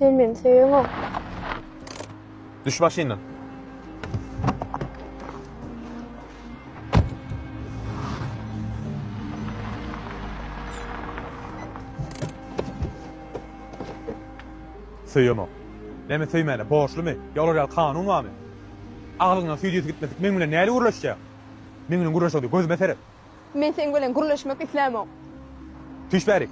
Sen meni söýeňok. Düş maşyndan. Söýemok. Näme söýmäne, borçlumy? Ýa olar ýaly kanun barmy? Aglyňdan süýt ýiti gitmedik meň bilen nädip gürleşjäň? Meň bilen gürleşerdi, gözüme seret. Men seň bilen gürleşmek islämok. Tüýş bäri.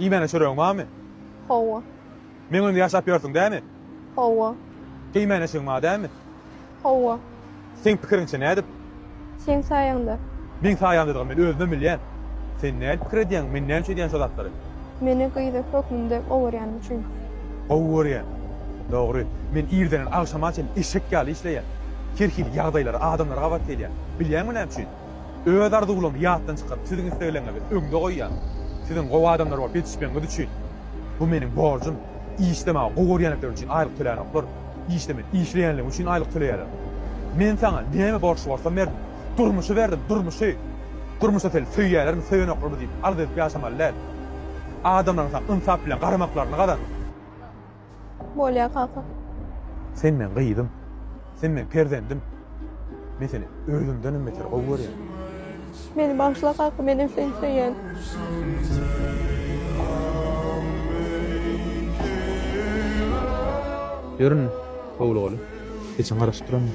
Iýmäne çöregiň barmy? Hawa. Meň öňümde ýaşap ýörsüň dämi? Hawa. Geýmäne eşigiň bar dämi? Hawa. Seň pikiriňçe nädip? Seň saýaňda. Meň saýaňdadygyny men özümem bilýän. Sen nädip pikir edýäň, men näme üçin edýän şo zatlary? Meni gyzak hökmünde owarýanyň üçin. gowy görýän. Dogry, men irdenden agşama çenli eşek ýaly işleýän. Her hili ýagdaýlara, adamlara gabat gelýän. Bilýäňmi näme üçin? Öz arzuwlarymy ýatdan çykaryp, siziň islegleriňizi öňde goýýan. Siziň gowy adamlar bolup ýetişmegiňiz üçin. Bu meniň borjum. Işlemäni gowy görýändikleri üçin aýlyk tölänoklar. Işde men işleýänligim üçin aýlyk töleýärler. Men saňa näme borçly bolsam berdim. Durmuşy berdim, durmuşy! Durmuşda seni söýýärlermi, söýenoklarmy diýip arz edip ýaşamaly däl. Adamlaryň saňa ynsap bilen garamaklaryny gazan. Bolýar kaka. Sen meň gyzym. Sen meň perzendim. Men seni özümdenem beter gowy görýän. Meni bagyşla kaka, menem seni söýýän. Ýörün. Howlugaly, heçem garaşyp durandyr.